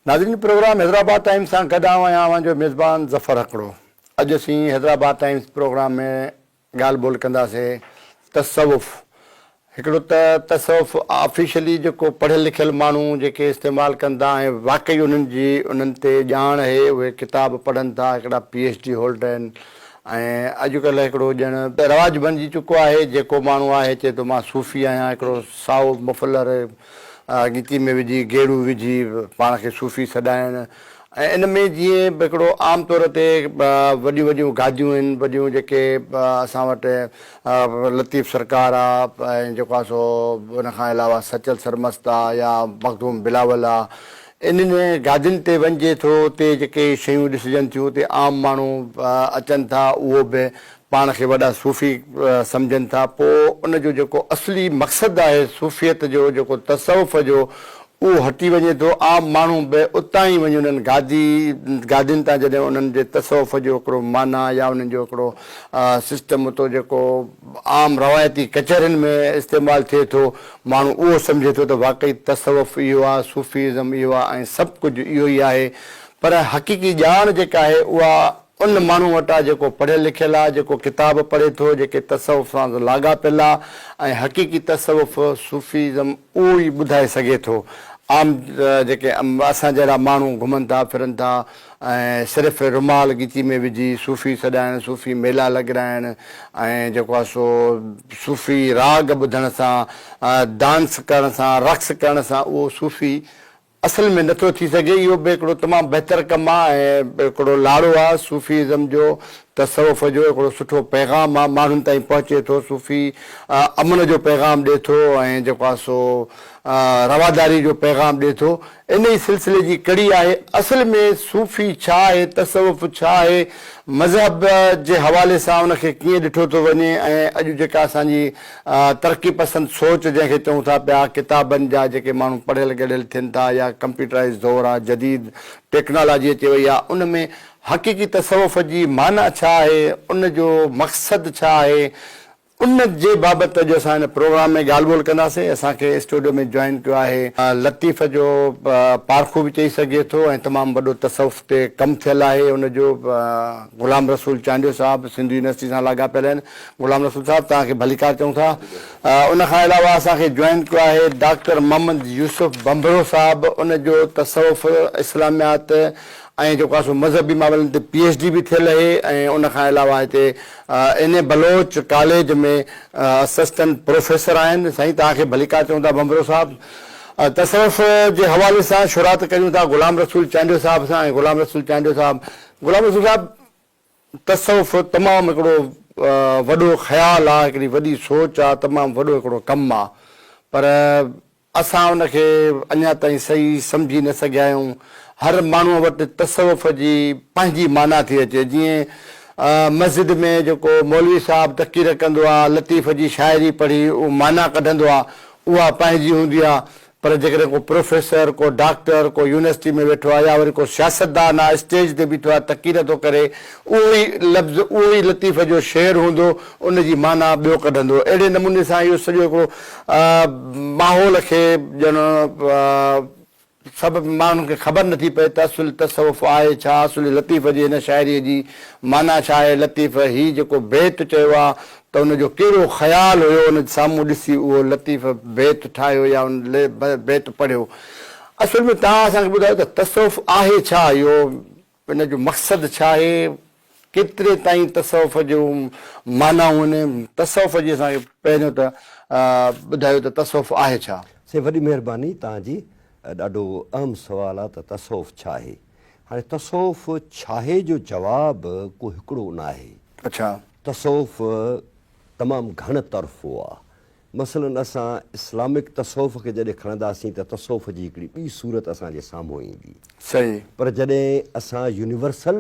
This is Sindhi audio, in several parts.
ناظرين پروگرام حيدرآباد ٽائيمز سان گڏ آئون آهيان اوهان جو ميزبان ظفر هڪڙو اڄ اسين حيدرآباد ٽائيمز پروگرام ۾ ڳالهه ٻولهه ڪنداسين تصوف هڪڙو ته تصوف آفيشلي جيڪو پڙهيل لکيل ماڻهو جيڪي استعمال ڪن ٿا ۽ واقعي انهن جي انهن تي ڄاڻ اهي اهي ڪتاب پڙهن ٿا هڪڙا پي ايڇ ڊي هولڊر آهن ۽ اڄ ڪلهه هڪڙو ڄڻ رواج بڻجي چڪو آهي جيڪو ماڻهو آهي چئي ٿو مان صوفي آهيان هڪڙو سائو مفلر ڳيتي ۾ وجهي گيڙو وجهي پاڻ کي صوفي سڏائڻ ۽ ان ۾ جيئن به هڪڙو عام طور تي وڏيون وڏيون گاديون آهن وڏيون جيڪي اسان وٽ لطيف سرڪار آ ۽ جيڪو آ سو ان کان علاوه سچل سرمست آ يا مخدوم بلاول آ انهن گادين تي وڃجي ٿو اتي جيڪي شيون ڏسجن ٿيون اتي عام ماڻهو اچن ٿا اهو به پاڻ کي وڏا صوفي سمجهن ٿا پوء ان جو جيڪو اصلي مقصد آهي صوفيت جو جيڪو تصوف جو اهو هٽي وڃي ٿو، عام ماڻهو به اتان ئي وڃي انهن گادي گادين تان جڏهن انهن جي تصوف جو هڪڙو معنيٰ يا انهن جو هڪڙو سسٽم اتو جيڪو عام روايتي ڪچهرين ۾ استعمال ٿئي ٿو، ماڻهو اهو سمجهي ٿو ته واقعي تصوف اهو آ، صوفي ازم اهو آ ۽ سڀ ڪجهه اهو ئي آهي، پر حقيقي ڄاڻ جيڪا آهي اها. ان ماڻهو وٽ آ جيڪو پڙهيل لکيل آ، جيڪو ڪتاب پڙهي ٿو، جيڪي تصوف سان لاڳاپيل آ ۽ حقيقي تصوف، صوفيزم، اهو ئي ٻڌائي سگهي ٿو. عام جيڪي اسان جهڙا ماڻهو گهمن ٿا ڦرن ٿا ۽ صرف رومال ڳچي ۾ وجهي صوفي سڏائڻ، صوفي ميلا لڳرائڻ ۽ جيڪو آ سو صوفي راڳ ٻڌڻ سان، ڊانس ڪرڻ سان، رقص ڪرڻ سان اهو صوفي اصل ۾ نٿو ٿي سگهي. اهو به هڪڙو تمام بهتر ڪم آ ۽ هڪڙو لاڙو آ. صوفي ازم جو، تصوف جو هڪڙو سٺو پيغام آ. ماڻهن تائين پهچي ٿو. صوفي امن جو پيغام ڏي ٿو ۽ جيڪو آ سو رواداري جو پيغام ڏي ٿو. ان ئي سلسلي جي ڪڙي آهي. اصل ۾ صوفي ڇا آهي، تصوف ڇا آهي، مذهب جي حوالي سان ان کي ڪيئن ڏٺو ٿو وڃي ۽ اڄ جيڪا اسان جي ترقي پسند سوچ جنهن کي چئون ٿا پيا، ڪتابن جا جيڪي ماڻهو پڙهيل ڳڙهيل ٿين ٿا يا ڪمپيوٽرائيز دور آ، جديد ٽيڪنالاجي اچي وئي آ، ان ۾ حقيقي تصوف جي معنيٰ ڇا آهي، ان جو مقصد ڇا آهي، ان جي بابت اڄ اسان هن پروگرام ۾ ڳالهه ٻولهه ڪنداسين. اسان کي اسٽوڊيو ۾ جوائن ڪيو آهي. لطيف جو پارکو به چئي سگهجي ٿو ۽ تمام وڏو تصوف تي ڪم ٿيل آهي ان جو غلام رسول چانڊيو صاحب سنڌ يونيورسٽي سان لاڳاپيل آهن. غلام رسول صاحب توهان کي ڀليڪار چئون ٿا. ان کان علاوه اسان کي جوائن ڪيو آهي ڊاڪٽر محمد يوسف ڀنڀرو صاحب ان جو تصوف، اسلاميات ۽ جيڪو آهي سو مذهبي معاملن تي پي ايڇ ڊي به ٿيل اهي ۽ ان کان علاوه هتي N A Baloch college ۾ assistant professor آهن. سائين توهان کي ڀليڪار چئون ٿا ڀنڀرو صاحب. تصوف جي حوالي سان شروعات ڪريون ٿا غلام رسول چانڊيو صاحب سان ۽ غلام رسول چانڊيو صاحب غلام رسول صاحب تصوف تمام هڪڙو وڏو خيال آ، هڪڙي وڏي سوچ آ، تمام وڏو هڪڙو ڪم آ، پر اسان ان کي اڃا تائين صحيح سمجهي نه سگهيا آهيون. هر ماڻهوء وٽ تصوف جي پنهنجي معنيٰ ٿي اچي، جيئن مسجد ۾ جيڪو مولوي صاحب تقرير ڪندو آ، لطيف جي شاعري پڙهي معنيٰ ڪڍندو آ، اها پنهنجي هوندي آ، پر جيڪڏهن ڪو پروفيسر، ڪو ڊاڪٽر، ڪو يونيورسٽي ۾ ويٺو آهي يا وري ڪو سياستدان آهي اسٽيج تي بيٺو آهي تقرير ٿو ڪري اهو ئي لفظ اهو ئي لطيفه جو شعر هوندو ان جي معنيٰ ٻيو ڪڍندو اهڙي نموني سان اهو سڄو هڪڙو ماحول کي ڄڻ سڀ ماڻهن کي خبر نه ٿي پئي ته اصل تصوف آهي ڇا؟ اصل لطيفه جي هن شاعري جي معنيٰ ڇا آهي؟ لطيفه هي جيڪو بيت چيو آهي ته ان جو ڪهڙو خيال هيو ان سامهون ڏسي اهو لطيف بيت ٺاهيو يا ان بيت پڙهيو. اصل ۾ توهان اسان کي ٻڌايو ته تصوف آهي ڇا اهو ان جو مقصد ڇا آهي ڪيتري تائين تصوف جون معنائون آهن تصوف جي اسان کي پهريون ته ٻڌايو ته تصوف آهي ڇا. سائين وڏي مهرباني توهان جي ڏاڍو اهم سوال آهي ته تصوف ڇا آهي هاڻي تصوف ڇاهي جو جواب ڪو هڪڙو ناهي. اڇا. تصوف تمام گهڻ طرفو آ. مثلا اسان اسلامڪ تصوف کي جڏهن کڻنداسين ته تصوف جي هڪڙي ٻي صورت اسان جي سامهون ايندي. صحيح. پر جڏهن اسان يونيورسل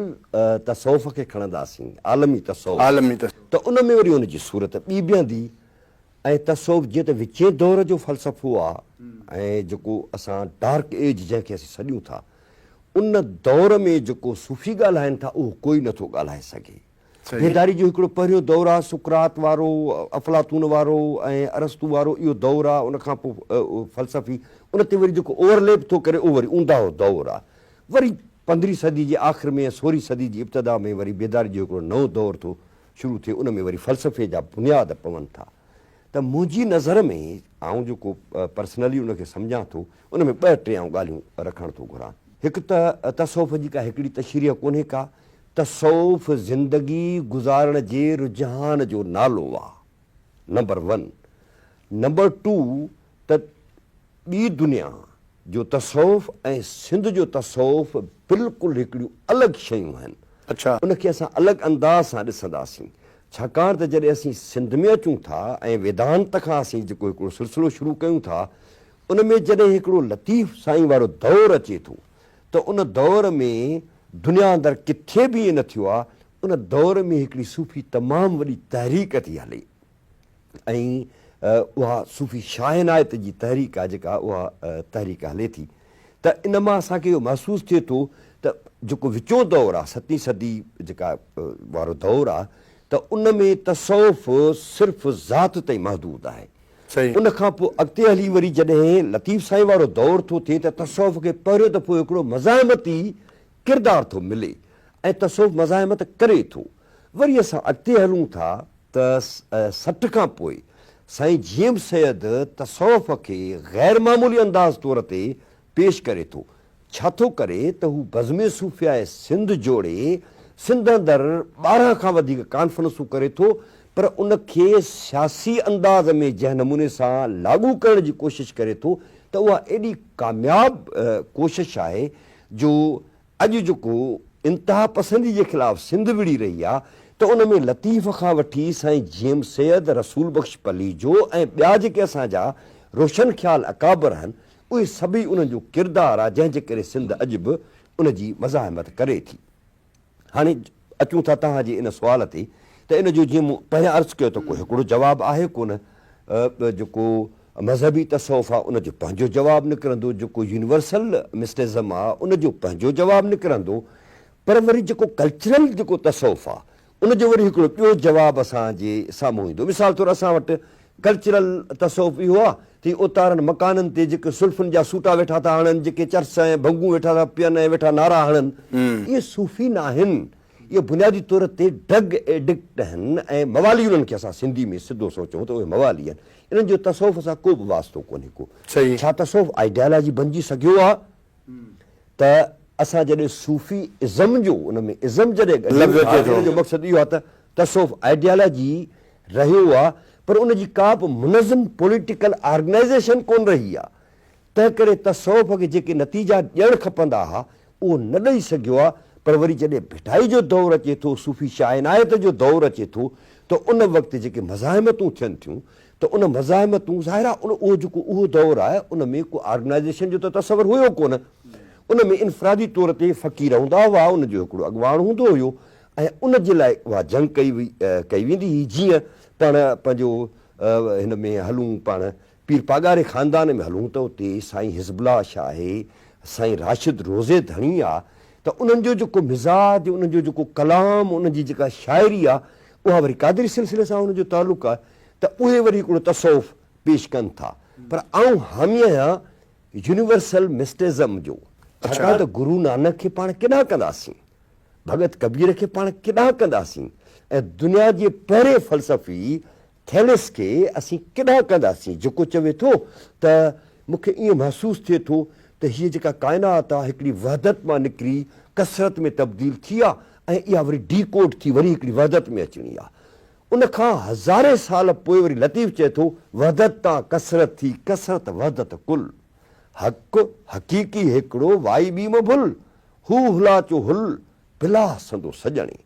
تصوف کي کڻنداسين، عالمي تصوف، عالمي تصوف. ته ان ۾ وري ان جي صورت ٻي بيهندي ۽ تصوف جيئن ته وچين دور جو فلسفو آ ۽ جيڪو اسان ڊارڪ ايج جنهن کي اسين سڏيون ٿا، ان دور ۾ جيڪو صوفي ڳالهائين ٿا اهو ڪوئي نٿو ڳالهائي سگهي. بيداري جو هڪڙو پهريون دور آ، سقراط وارو، افلاطون وارو ۽ ارسطو وارو اهو دور آ، ان کان پوء فلسفي، ان تي وري جيڪو اوور ليپ ٿو ڪري اهو وري اونداهو دور آ. وري پندرهين صدي جي آخر ۾ ۽ سورهين صدي جي ابتدا ۾ وري بيداري جو هڪڙو نئون دور ٿو شروع ٿئي، ان ۾ وري فلسفي جا بنياد پون ٿا. ته منهنجي نظر ۾ آئون جيڪو پرسنلي ان کي سمجهان ٿو ان ۾ ٻه ٽي آئون ڳالهيون رکڻ ٿو گهران. هڪ ته تصوف جي ڪا هڪڙي تشريح ڪونهي ڪا، تصوف زندگي گذارڻ جي رجحان جو نالو آ نمبر ون، نمبر ٽو ته ٻي دنيا جو تصوف ۽ سنڌ جو تصوف بلڪل هڪڙيون الڳ شيون آهن. ان کي اسان الڳ انداز سان ڏسنداسين. ڇاڪاڻ ته جڏهن اسين سنڌ ۾ اچون ٿا ۽ ويدانت کان اسين جيڪو هڪڙو سلسلو شروع ڪيون ٿا ان ۾ جڏهن هڪڙو لطيف سائين وارو دور اچي ٿو ته ان دور ۾ دنيا اندر ڪٿي به ائين نه ٿيو آهي ان دور ۾ هڪڙي صوفي تمام وڏي تحريڪ ٿي هلي ۽ اها صوفي شاهعنايت جي تحريڪ آهي جيڪا اها تحريڪ هلي ٿي ته ان مان اسان کي اهو محسوس ٿئي ٿو ته جيڪو وچون دور آهي ستين صدي جيڪا وارو دور آهي ته ان ۾ تصوف صرف ذات تائين محدود آهي ان کان پوء اڳتي هلي وري جڏهن لطيف سائين وارو دور ٿو ٿئي ته تصوف کي پهريون دفعو هڪڙو مزاحمتي ڪردار ٿو ملي ۽ تصوف مزاحمت ڪري ٿو وري اسان اڳتي هلون ٿا ته سٺ کان پوء سائين جيئم سيد تصوف کي غير معمولي انداز طور تي پيش ڪري ٿو، ڇا ٿو ڪري ته هو بزم صوفياء سنڌ جوڙي سنڌ اندر ٻارهن کان وڌيڪ ڪانفرنسون ڪري ٿو پر ان کي سياسي انداز ۾ جنهن نموني سان لاڳو ڪرڻ جي ڪوشش ڪري ٿو ته اها ايڏي ڪامياب ڪوشش آهي جو اڄ جيڪو انتهاپسندي جي خلاف سنڌ وڙهي رهي آ ته ان ۾ لطيف کان وٺي سائين جيم سيد، رسول بخش پليجو ۽ ٻيا جيڪي اسان جا روشن خيال اڪابر آهن اهي سڀئي انهن جو ڪردار آ جنهن جي ڪري سنڌ اڄ به ان جي مزاحمت ڪري ٿي. هاڻي اچون ٿا توهان جي ان سوال تي ته ان جو جيئن مون پهريان عرض ڪيو ته ڪو هڪڙو جواب آهي ڪونه ته جيڪو مذهبي تصوف آ ان جو پنهنجو جواب نڪرندو جيڪو يونيورسل مسٽزم آ ان جو پنهنجو جواب نڪرندو پر وري جيڪو ڪلچرل جيڪو تصوف آ ان جو وري هڪڙو ٻيو جواب اسان جي سامهون ايندو مثال طور اسان وٽ ڪلچرل تصوف اهو آ تي اوتارن مڪانن تي جيڪي سلفن جا سوٽا ويٺا ٿا هڻن جيڪي چرس ۽ ڀنگون ويٺا ٿا پين ۽ ويٺا نعرا هڻن اهي صوفي نه آهن اهي بنيادي طور تي ڊرگ ايڊڪٽ آهن ۽ موالي انهن کي اسان سنڌي ۾ سڌو سو چئون ته اهي موالي آهن انهن جو تصوف سان ڪو به واسطو ڪونهي ڪو ڇا تصوف آئيڊيالاجي بنجي سگهيو آ؟ ته اسان جڏهن صوفي ازم جو ان ۾ ازم جڏهن ڳڍيون ٿا ته ان جو مقصد اهو آهي ته تصوف آئيڊيالاجي رهيو آهي پر ان جي ڪا به منظم پوليٽيڪل آرگنائيزيشن ڪونه رهي آهي تنهنڪري تصوف کي جيڪي نتيجا ڏيڻ کپندا ها اهو نه ڏئي سگهيو آهي پر وري جڏهن ڀٽائي جو دور اچي ٿو صوفي شاهه عنايت جو دور اچي ٿو ته ان وقت جيڪي مزاحمتون ٿين ٿيون ته ان مزاحمتون ظاهرا ان اهو جيڪو اهو دور آهي ان ۾ ڪو آرگنائيزيشن جو ته تصور هيو ڪونه ان ۾ انفرادي طور تي فقير هوندا هئا ان جو هڪڙو اڳواڻ هوندو هيو ۽ ان جي لاء اها جنگ ڪئي وئي ڪئي ويندي هئي جيئن پاڻ پنهنجو هن ۾ هلون پاڻ پير پاڳاري خاندان ۾ هلون ته اتي سائين حزب الله شاهه آهي سائين راشد روضي ڌڻي آ ته انهن جو جيڪو مزاج انهن جو جيڪو ڪلام انهن جي جيڪا شاعري آ اها وري قادري سلسلي سان ان جو تعلق آهي ته اهي وري هڪڙو تصوف پيش ڪن ٿا پر آئون حامي آهيان يونيورسل مسٽزم جو ڇاڪاڻ ته گرو نانڪ کي پاڻ ڪيڏانهن ڪنداسين ڀڳت ڪبير کي پاڻ ڪيڏانهن ڪنداسين ۽ دنيا جي پهرين فلسفي ٿيلس کي اسين ڪيڏانهن ڪنداسين جيڪو چوي ٿو ته مون کي ائين محسوس ٿئي ٿو ته هيء جيڪا ڪائنات آهي هڪڙي وحدت مان نڪري ڪثرت ۾ تبديل ٿي آهي ۽ اها وري ڊي ڪوڊ ٿي وري هڪڙي وحدت ۾ اچڻي آهي ان کان هزارين سال پوء وري لطيف چئي ٿو، وحدت تان ڪثرت ٿي، ڪثرت وحدت ڪل. حق، حقيقي هيڪڙو، وائي ٻي مان ڀل. هو هلا چو هل، پلاح سندو سڄڻي.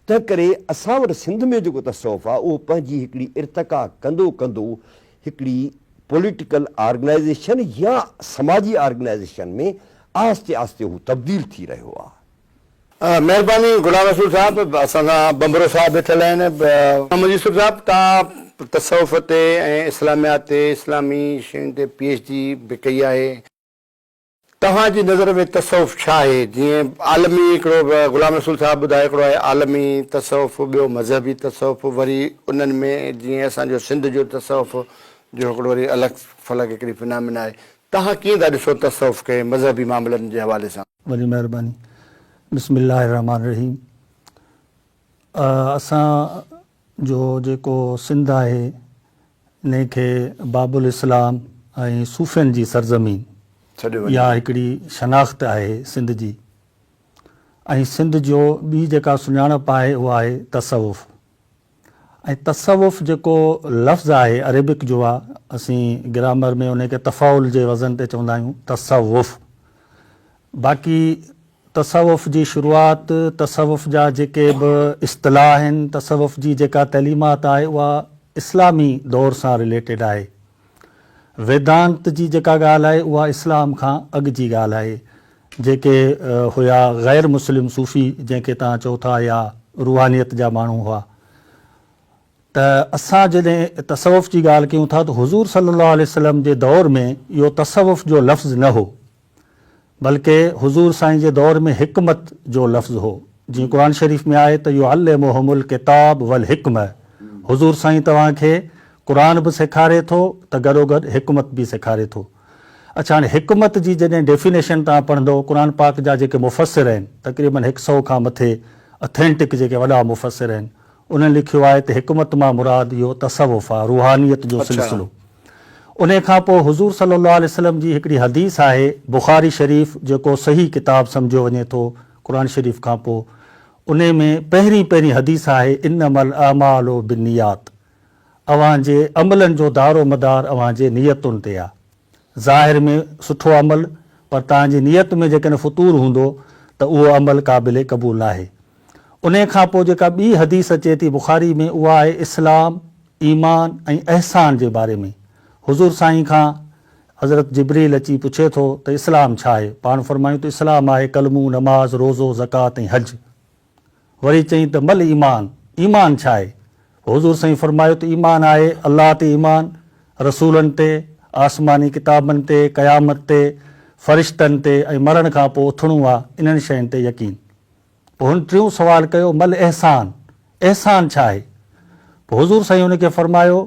تنهن ڪري اسان وٽ سنڌ ۾ جيڪو تصوف آ، اهو پنهنجي هڪڙي ارتقا ڪندو ڪندو هڪڙي پوليٽيڪل آرگنائيزيشن يا سماجي آرگنائيزيشن ۾ آهستي آهستي هو تبديل ٿي رهيو آ. مهرباني غلام رسول صاحب اسان سان ٻنڀرو صاحب ويٺل آهن. محمد يوسف صاحب توهان تصوف تي ۽ اسلاميات تي اسلامي شين تي پي ايڇ ڊي به ڪئي آهي. توهان جي نظر ۾ تصوف ڇا آهي؟ جيئن عالمي هڪڙو غلام رسول صاحب ٻڌايو هڪڙو آهي عالمي تصوف ٻيو مذهبي تصوف وري انهن ۾ جيئن اسان جو سنڌ جو تصوف جو هڪڙو وري الڳ فلڪ هڪڙي فنامنا آهي توهان ڪيئن ٿا ڏسو تصوف کي مذهبي معاملن جي حوالي سان؟ وڏي مهرباني بسم الله الرحمٰن الرحيم اسان جو جيڪو سنڌ آهي انهي کي باب الاسلام ۽ صوفين جي سرزمين يا هڪڙي شناخت آهي سنڌ جي ۽ سنڌ جو ٻي جيڪا سڃاڻپ آهي اها آهي تصوف ۽ تصوف جيڪو لفظ آهي عريبڪ جو آ اسين گرامر ۾ انهي کي تفاعل جي وزن تي چوندا آهيون تصوف باقي تصوف جي شروعات تصوف جا جيڪي به اصطلاح آهن تصوف جي جيڪا تعليمات آهي اها اسلامي دور سان رليٽيڊ آهي ويدانت جي جيڪا ڳالهه آهي اها اسلام کان اڳ جي ڳالهه آهي جيڪي هيا غير مسلم صوفي جنهن کي توهان چئو ٿا يا روحانيت جا ماڻهو هئا ته اسان جڏهن تصوف جي ڳالهه ڪيون ٿا ته حضور صلي الله عليه وسلم جي دور ۾ اهو تصوف جو لفظ نه هو بلڪه حضور سائين جي دور ۾ حڪمت جو لفظ هو جيئن قرآن شريف ۾ آهي ته يعلمهم الڪتاب والحڪمة حضور سائين توهان کي قرآن به سيکاري ٿو ته گڏوگڏ حڪمت به سيکاري ٿو. اڇا هاڻي حڪمت جي جڏهن ڊيفينيشن توهان پڙهندو قرآن پاڪ جا جيڪي مفسر آهن تقريبن هڪ سئو کان مٿي اٿينٽڪ جيڪي وڏا مفسر آهن انهن لکيو آهي ته حڪمت مان مراد اهو تصوف آهي روحانيت جو اڇا. سلسلو انهي کان پوء حضور صلي الله عليه وسلم جي هڪڙي حديث آهي بخاري شريف جيڪو صحيح ڪتاب سمجهيو وڃي ٿو قرآن شريف کان پوء انهي ۾ پهرين پهرين حديث آهي انما الاعمال بالنيات اوهان جي عملن جو دار و مدار اوهان جي نيتن تي آ. ظاهر ۾ سٺو عمل پر توهان جي نيت ۾ جيڪڏهن فتور هوندو ته اهو عمل قابل قبول ناهي. انهي کان پوء جيڪا ٻي حديث اچي ٿي بخاري ۾ اها آهي اسلام، ايمان ۽ احسان جي باري ۾. حضور سائين کان حضرت جبريل اچي پڇي ٿو ته اسلام ڇا آهي؟ پاڻ فرمايون ته اسلام آهي ڪلمو، نماز، روزو، زڪوات ۽ حج. وري چئين ته مل ايمان، ايمان ڇا آهي؟ حضور سائين فرمايو ته ايمان آهي الله تي ايمان، رسولن تي، آسماني ڪتابن تي، قيامت تي، فرشتن تي ۽ مرڻ کان پوء اٿڻو آ، انهن شين تي يقين. پوء هن ٽيون سوال ڪيو مل احسان، احسان ڇا آهي؟ پوء حضور سائين هن کي فرمايو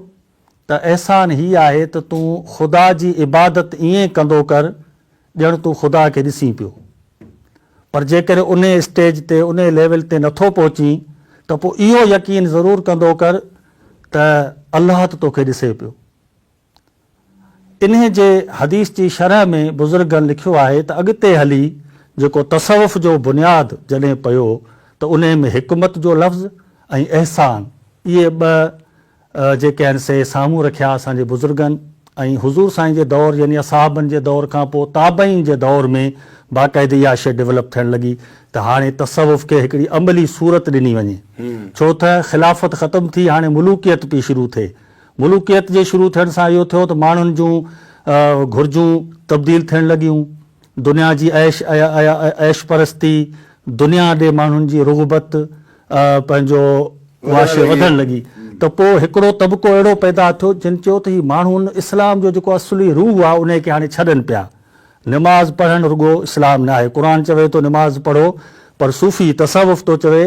ته احسان هي آهي ته تون خدا جي عبادت ائين ڪندو ڪر ڄڻ تون خدا کي ڏسين پيو. پر جيڪڏهن انهيء اسٽيج تي انهيء ليول تي نٿو پهچين ته پوء اهو يقين ضرور ڪندو ڪر ته الله ته توکي ڏسي پيو. انهيء جي حديث جي شرح ۾ بزرگن لکيو آهي ته اڳتي هلي جيڪو تصوف جو بنياد جڏهن پيو ته انهيء ۾ حڪمت جو لفظ ۽ احسان اهي ٻه جيڪي آهن سي سامهون رکيا اسان جي بزرگن ۽ حضور سائين جي دور يعني اصحابن جي دور کان پوء تابعين جي دور ۾ باقاعدي اها شيء ڊولپ ٿيڻ لڳي ته هاڻي تصوف کي هڪڙي عملي صورت ڏني وڃي ڇو ته خلافت ختم ٿي هاڻي ملوڪيت پئي شروع ٿئي ملوڪيت جي شروع ٿيڻ سان اهو ٿيو ته ماڻهن جون گهرجون تبديل ٿيڻ لڳيون دنيا جي عيش عيش پرستي، دنيا ڏي ماڻهن جي رغبت پنهنجو واشي وڌڻ لڳي ته پوء هڪڙو طبقو اهڙو پيدا ٿيو جن چيو ته هي ماڻهو ان اسلام جو جيڪو اصلي روح آهي انهي کي هاڻي ڇڏن پيا. نماز پڙهڻ رڳو اسلام ناهي. قرآن چوي ٿو نماز پڙهو پر صوفي تصوف ٿو چوي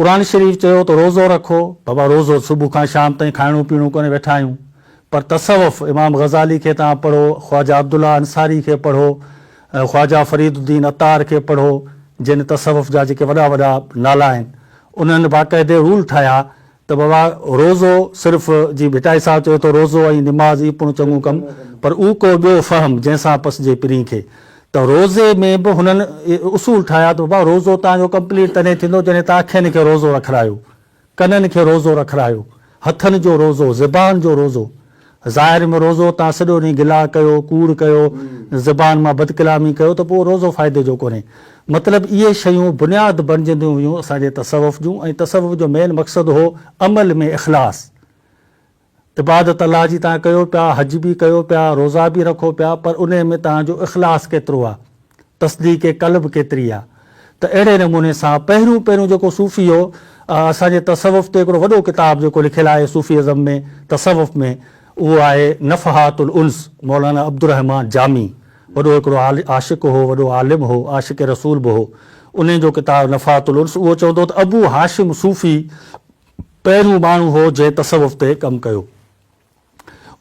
قرآن شريف چيو ته روزو رکو، بابا روزو صبح کان شام تائين کائڻو پيئڻو ڪونهي ويٺا آهيون، پر تصوف امام غزالي کي توهان پڙهو، خواجه عبدالله انصاري کي پڙهو، خواجه فريد الدين عطار کي پڙهو، جن تصوف جا جيڪي وڏا وڏا نالا آهن، انهن باقاعدي رول ٺاهيا ته بابا روزو صرف جي ڀٽائي صاحب چيو ته روزو ۽ نماز اي پڻ چڱو ڪم پر او ڪو ٻيو فهم جنهن سان پسجي پرين کي ته روزي ۾ به هنن اصول ٺاهيا ته بابا روزو توهان جو ڪمپليٽ تڏهن ٿيندو جڏهن توهان اکين کي روزو رکرايو، ڪنن کي روزو رکرايو، هٿن جو روزو، زبان جو روزو. ظاهر ۾ روزو توهان سڄو ڏينهن گلا ڪيو، ڪوڙ ڪيو، زبان مان بدڪلامي ڪيو ته پوء اهو روزو فائدي جو ڪونهي. مطلب اهي شيون بنياد بڻجنديون ويون اسان جي تصوف جون ۽ تصوف جو مين مقصد هو عمل ۾ اخلاص. عبادت الله جي تان ڪيو پيا، حج به ڪيو پيا، روزا به رکو پيا پر انهي ۾ تان جو اخلاص ڪيترو آ، تصديق قلب ڪيتري آ. ته اهڙي نموني سان پهريون پهريون جيڪو صوفي هو اسان جي تصوف تي هڪڙو وڏو ڪتاب جيڪو لکيل آهي صوفي ازم ۾ تصوف ۾ اهو آهي نفحات الانس مولانا عبدالرحمان جامي وڏو هڪڙو عاشق هو وڏو عالم هو عاشق رسول به هو انهي جو ڪتاب نفحات الانس اهو چوندو ته ابو هاشم صوفي پهريون ماڻهو هو جنهن تصوف تي ڪم ڪيو.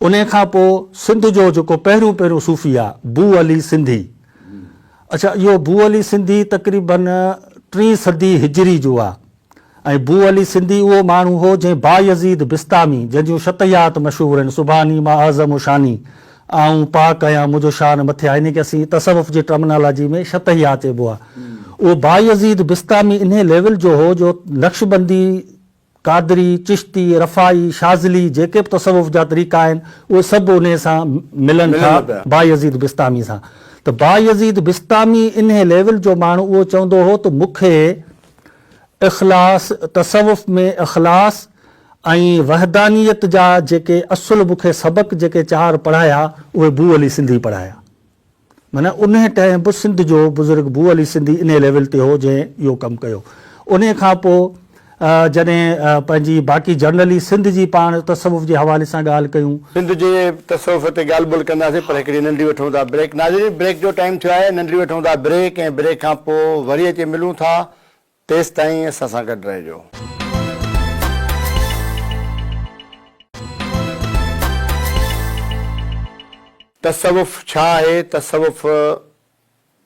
انهي کان پوء سنڌ جو جيڪو پهريون پهريون صوفي آ، بو علي سنڌي. اڇا اهو بو علي سنڌي تقريباً ٽين صدي هجري جو آ ۽ بو علي سنڌي اهو ماڻهو هو جنهن بايزيد بسطامي جنهن جون شطيحات مشهور آهن، سبحاني ما اعظم شاني، آئون پاڪ آهيان، منهنجو شان مٿي آهي، انهيء کي اسين تصوف جي ٽرمنالاجيء ۾ شطحيات چئبو آهي. اهو بايزيد بسطامي انهيء ليول جو هو جو نقشبندي، قادري، چشتي، رفاعي، شاذلي، جيڪي به تصوف جا طريقا آهن، اهي سڀ انهيء سان ملن ٿا، بايزيد بسطامي سان. ته بايزيد بسطامي انهيء ليول جو ماڻهو اهو چوندو هو ته مون کي اخلاص، تصوف ۾ اخلاص، ۽ وحدانيت جا جيڪي اصل مون کي سبق جيڪي چار پڙهايا اهي بو علي سنڌي پڙهايا. معنيٰ انهي ٽائيم به سنڌ جو بزرگ بو علي سنڌي انهي ليول تي هو جنهن اهو ڪم ڪيو. انهي کان پوء جڏهن پنهنجي باقي جرنلي سنڌ جي پاڻ تصوف جي حوالي سان ڳالهه ڪيون. سنڌ جي تصوف تي ڳالهه ٻولهه ڪنداسين پر هڪڙي ننڍي وٺون ٿا بريڪ. ناظرين بريڪ جو ٽائيم ٿيو آهي ننڍي وٺون ٿا بريڪ ۽ بريڪ کان پوء وري اچي ملون ٿا تيستائين اسان سان گڏ رهجو. تصوف ڇا آهي؟ تصوف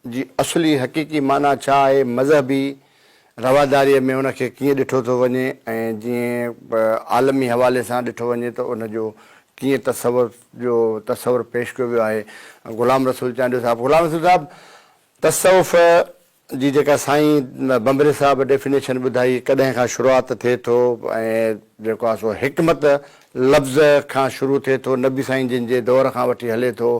جي اصلي حقيقي معنيٰ ڇا آهي؟ مذهبي رواداريء ۾ ان کي ڪيئن ڏٺو ٿو وڃي ۽ جيئن به عالمي حوالي سان ڏٺو وڃي ته ان جو ڪيئن تصوف جو تصور پيش ڪيو ويو آهي؟ غلام رسول چانڊيو صاحب، غلام رسول صاحب تصوف جي جيڪا سائين ڀنڀري صاحب ڊيفينيشن ٻڌائي ڪڏهن کان شروعات ٿئي ٿو ۽ جيڪو آ سو حڪمت لفظ کان شروع ٿئي ٿو نبي سائين جن جي دور کان وٺي هلي ٿو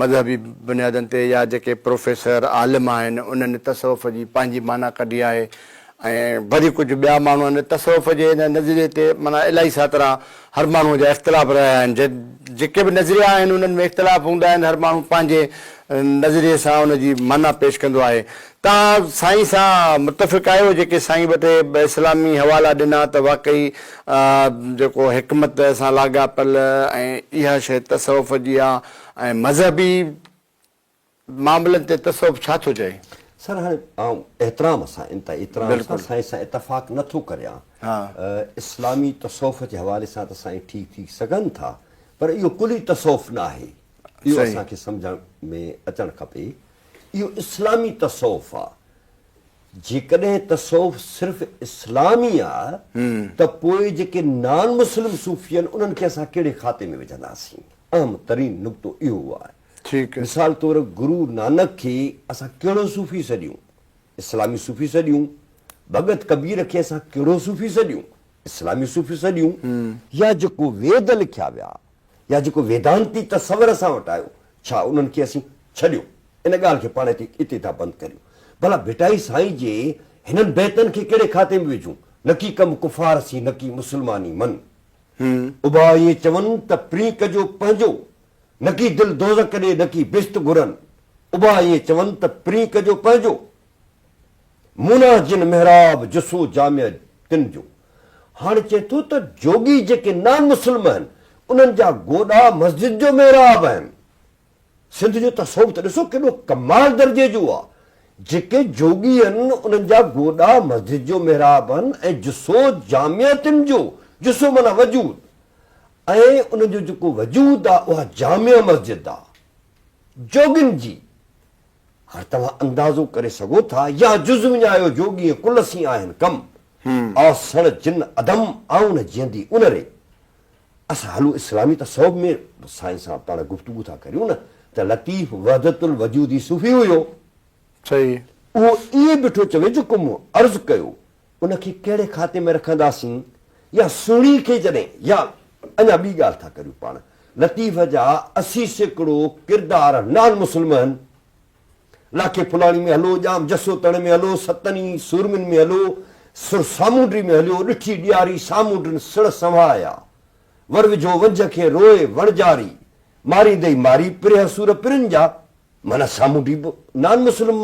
مذهبي بنيادن تي يا جيڪي پروفيسر عالم آهن انهن تصوف جي پنهنجي معنيٰ ڪڍي آهي ۽ وري ڪجهه ٻيا ماڻهو آهن تصوف جي هن نظريي تي معنيٰ الائي ساترا هر ماڻهو جا اختلاف رهيا آهن جيڪي به نظريا آهن انهن ۾ اختلاف هوندا آهن هر ماڻهو پنهنجي نظريي سان ان جي معنيٰ پيش ڪندو آهي توهان سائين سان متفق آهيو جيڪي سائين وٽ اسلامي حوالا ڏنا ته واقعي جيڪو حڪمت سان لاڳاپيل ۽ اها شيء تصوف جي آهي ۽ مذهبي معاملن تي تصوف ڇا ٿو چئي؟ سر هاڻي آئون احترام سان انتهائي احترام سان سائين سان اتفاق نه ٿو ڪريان اسلامي تصوف جي حوالي سان ته سائين ٺيڪ ٿي سگهن ٿا پر اهو ڪلي تصوف نه آهي اهو اسان کي سمجهڻ ۾ اچڻ کپي اهو اسلامي تصوف آ جيڪڏهن تصوف صرف اسلام ئي آ ته پوء جيڪي نان مسلم صوفي آهن انهن کي اسان ڪهڙي کاتي ۾ وجهنداسين اهم ترين نقطو اهو آهي ٺيڪ آهي. مثال طور گرو نانڪ کي اسان ڪهڙو صوفي سڏيون؟ اسلامي صوفي سڏيون. ڀڳت ڪبير کي اسان ڪهڙو صوفي سڏيون؟ اسلامي صوفي سڏيون. يا جيڪو ويد لکيا ويا يا جيڪو ويدانتي تصور اسان وٽ آيو ڇا انهن کي اسين ڇڏيو؟ ان ڳالهه کي پاڻ هتي اتي ٿا بند ڪريون. ڀلا ڀٽائي سائين جي هنن بيتن کي ڪهڙي کاتي ۾ وجهون؟ نڪي ڪم ڪفار سين نڪي مسلماني من. اڀا ائين چون ته پرينڪ جو پنهنجو نڪي دل دوزخ ڏي نڪي بھشت گھرن ابا ائين چون ته پرين ڪجو پنھنجو مونا جن محراب جسو جامع تن جو ھاڻ چئي ٿو ته جوڳي جيڪي نان مسلم اھن انھن جا گوڏا مسجد جو محراب اھن سنڌ جو تصوف ته ڏسو ڪيڏو ڪمال درجي جو آ جيڪي جوڳي اھن انھن جا گوڏا مسجد جو محراب اھن ۽ جسو جامع تن جو جسو معنيٰ وجود ۽ ان جو جيڪو وجود آ اها جامع مسجد آ جوڳين جي هر توهان اندازو ڪري سگهو ٿا يا جز وڃايو جوڳي ۽ ڪل سين آهن ڪم آ سڻ جن عدم آئون جيندي ان ري اسان هلو اسلامي تصوف ۾ سائين سان پاڻ گفتگو ٿا ڪريون نه ته لطيف وحدت الوجودي صوفي هيو صحيح اهو ائين بيٺو چوي جيڪو مون عرض ڪيو ان کي ڪهڙي کاتي ۾ رکنداسين يا سهڻي کي جڏهن يا اڃا ٻي ڳالهه ٿا ڪريون پاڻ لطيف جا اسي سيڪڙو ڪردار نان مسلم هن لاکي ڦلاڻي ۾ هلو ڄام جسوتڻ ۾ هلو ستني سورمين ۾ هلو سر سامونڊي ۾ هليو ڏٺي ڏياري سامونڊن سڙ سنوهايا ور وجهو ونجهه کي روئي وڻجاري ماريندئي ماري پرهه سور پرن جا معنيٰ سامونڊي به نان مسلم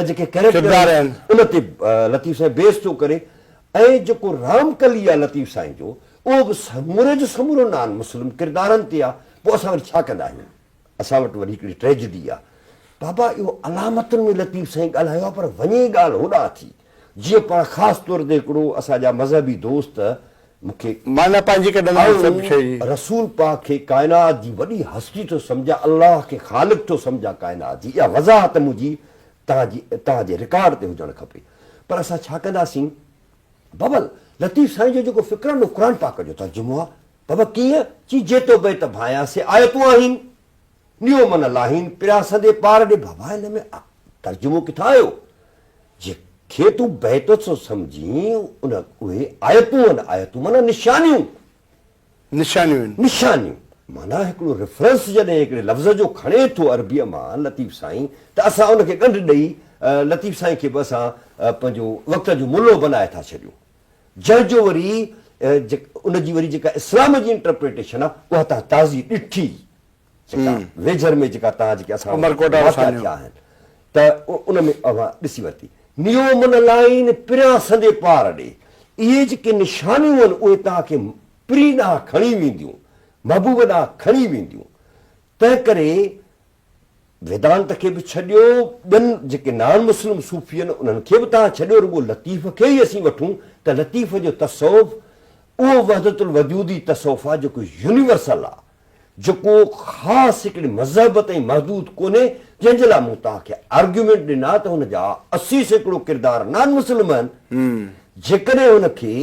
جيڪي ڪيريڪٽر آهن ان تي لطيف سائين بيس ٿو ڪري ۽ جيڪو رام ڪلي آهي لطيف سائين جو اهو به سموري جو سمورو نان مسلم ڪردارن تي آهي پوء اسان وري ڇا ڪندا آهيون اسان وٽ وري هڪڙي ٽريجڊي آهي بابا اهو علامتن ۾ لطيف سائين ڳالهايو آهي پر وڃي ڳالهه هوڏانهن ٿي جيئن پاڻ خاص طور تي هڪڙو اسان جا مذهبي دوست مون کي معنيٰ پنهنجي ڪڍندا آهن سڀ شيء جي. آئون رسول پاڪ کي ڪائنات جي وڏي هستي ٿو سمجهان، الله کي خالق ٿو سمجهان ڪائنات جي. اها وضاحت منهنجي توهان جي توهان جي رڪارڊ تي هجڻ کپي. پر اسان ڇا ڪنداسين؟ بابل، لطيف سائين جو جيڪو فڪرانو قرآن پاڪ جو ترجمو آهي. بابا، ڪيئن؟ چي جيتوبيت ڀانئيا سي آيتون آهن. ڏيو من لاهين پريا سندي پار ڏي بابا هن ۾ آ ترجمو ڪٿان آيو جي کي تون بيت ٿو سمجهين ان اهي آيتون ان آيتون معنيٰ نشانيون نشانيون ان نشانيون معنيٰ هڪڙو ريفرنس جڏهن هڪڙي لفظ جو کڻي ٿو عربيء مان لطيف سائين ته اسان ان کي ڳنڍ ڏئي لطيف سائين کي به اسان پنهنجو وقت جو ملو بنائي ٿا ڇڏيون جنهن جو وري ان جي وري جيڪا اسلام جي انٽرپريٽيشن آ اها تان تازي ڏٺي جيڪا ويجهر ۾ جيڪا تان جيڪي اسان وٽ واقعا ٿيا آهن ته ان ۾ اوهان ڏسي ورتي. نيو من لائين پريان سندي پار ڏي اهي جيڪي نشانيون آهن اهي تان کي پرين ڏانهن کڻي وينديون محبوب ڏانهن کڻي وينديون تنهن ڪري ويدانت کي به ڇڏيو ٻين جيڪي نان مسلم صوفي آهن انهن کي به تان ڇڏيو رڳو لطيف کي ئي اسين وٺون ته لطيف جو تصوف اهو وحدت الوجودي تصوف آهي جيڪو يونيورسل آهي جيڪو خاص هڪڙي مذهب تائين محدود ڪونهي جنهن جي لاء مون توهان کي آرگيومينٽ ڏنا ته هن جا اسي سيڪڙو ڪردار نان مسلم آهن جيڪڏهن هن کي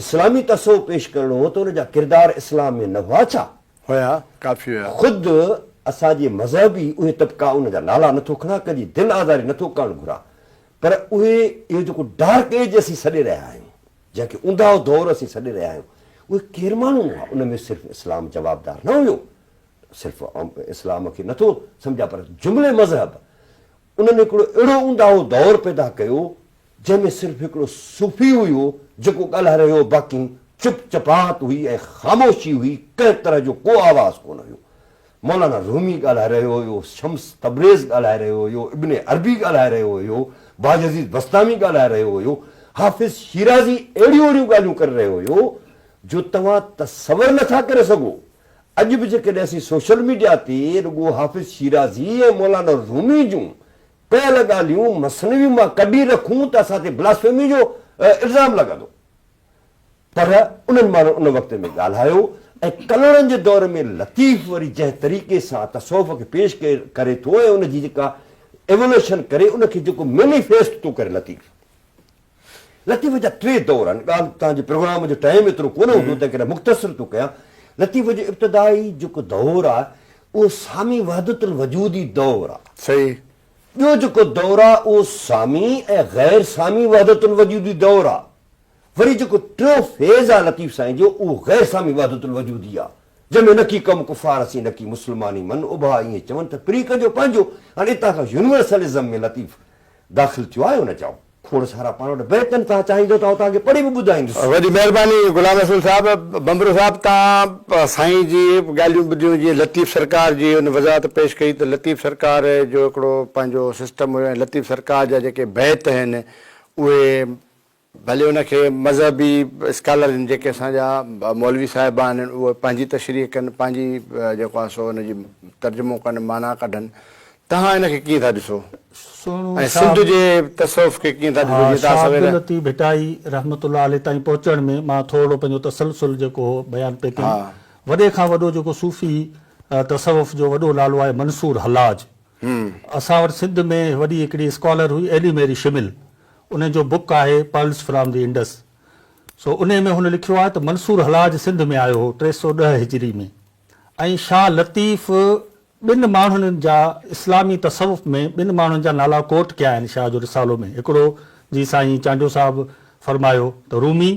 اسلامي تصوف پيش ڪرڻو هو ته هن جا ڪردار اسلام ۾ نه هئا ڇا؟ هيا، ڪافي هيا. خود اسان جي مذهب ئي اهي طبقا ان جا نالا نٿو کڻان، ڪنهن جي دل آزاري نٿو ڪرڻ گهران، پر اهي اهو جيڪو ڊارڪ ايج اسين سڏي رهيا آهيون، جنهن کي اونداهو دور اسين سڏي رهيا آهيون، اهي ڪير ماڻهو هئا؟ ان ۾ صرف اسلام جوابدار نه هيو، صرف اسلام کي نٿو سمجهان، پر جملي مذهب انهن هڪڙو اهڙو اونداهو دور پيدا ڪيو، جنهن ۾ صرف هڪڙو صوفي ئي هو جيڪو ڳالهائي رهيو هو باقي چپ چپات هئي ۽ خاموشي هئي ڪنهن طرح جو ڪو آواز ڪونه هيو. مولانا رومي ڳالهائي رهيو هيو، شمس تبريز ڳالهائي رهيو هيو، ابن عربي ڳالهائي رهيو هيو، باجعزيز بسطامي ڳالهائي رهيو هيو، حافظ شيرازي اهڙيون اهڙيون ڳالهيون ڪري رهيو هيو جو توهان تصور نه ٿا ڪري سگهو. اڄ به جيڪڏهن اسين سوشل ميڊيا تي رڳو حافظ شيرازي ۽ مولانا رومي جون ڪيل ڳالهيون مثنوي مان ڪڍي رکون ته اسان تي بلاسفيمي جو الزام لڳندو پر انهن ماڻهن ان وقت ۾ ڳالهايو ۽ ڪلهوڙن جي دور ۾ لطيف وري جنهن طريقي سان تصوف کي پيش ڪري ٿو ۽ ان جي جيڪا ايولوشن ڪري ان کي جيڪو مينيفيسٽ ٿو ڪري لطيف لطيفي جا ٽي دور آهن، ڳالهه تان جي پروگرام جو ٽائيم ايترو ڪونه هوندو تنهن ڪري مختصر ٿو ڪيان. لطيفي جو ابتدائي جيڪو دور آهي اهو سامي وحدت الوجودي دور آهي. صحيح. ٻيو جيڪو دور آهي اهو سامي ۽ غير سامي وحدت الوجودي دور آهي. وري جيڪو ٽيون فيز آهي لطيف سائين جو اهو غير سامي وحدت الوجودي آهي جنهن ۾ نڪي قوم ڪفار اسين نڪي مسلمان ئي من اڀا ائين چون ته فريق جو پنهنجو هاڻي اتان کان يونيورسلزم ۾ لطيف داخل ٿيو آهي ان چئو کوڙ سارا پاڻ وٽ بئڪ آهن توهان چاهيندو ته آئون توهان کي پڙهي به ٻڌائيندس. وڏي مهرباني غلام رسول صاحب. ڀنڀرو صاحب توهان سائين جي ڳالهيون ٻڌيون جيئن لطيف سرڪار جي ان وضاحت پيش ڪئي ته لطيف سرڪار جو هڪڙو پنهنجو سسٽم هيو ۽ لطيف سرڪار جا جيڪي بيت آهن اهي ڀلي ان کي مذهبي اسڪالر جن جيڪي اسان جا مولوي صاحبان آهن اهي پنهنجي تشريح ڪن پنهنجي جيڪو آهي سو ان جي ترجمو ڪن معنيٰ ڪڍن توهان ان کي ڪيئن ٿا ڏسو ۽ سنڌ جي تصوف کي ڪيئن ٿا ڏسو جيئن تان سوير. شاهه عبداللطيف ڀٽائي رحمة الله عليه تائين پهچڻ ۾ مان ٿورڙو پنهنجو تسلسل جيڪو هو بيان پئي ڪيم. وڏي کان وڏو جيڪو صوفي تصوف جو وڏو نالو آهي منصور حلاج. اسان وٽ سنڌ ۾ وڏي هڪڙي اسڪالر هئي ايلي ميري شمل انهي جو بوڪ آهي پرلس فرام دي انڊس سو انهي ۾ هن لکيو آهي ته منصور حلاج سنڌ ۾ آيو هو ٽي سؤ ڏهه هجري ۾ ۽ شاهه لطيف ٻن ماڻهن جا اسلامي تصوف ۾ ٻن ماڻهن جا نالا ڪوٽ ڪيا آهن شاهه جو رسالو ۾ هڪڙو جي سائين چانڊيو صاحب فرمايو ته رومي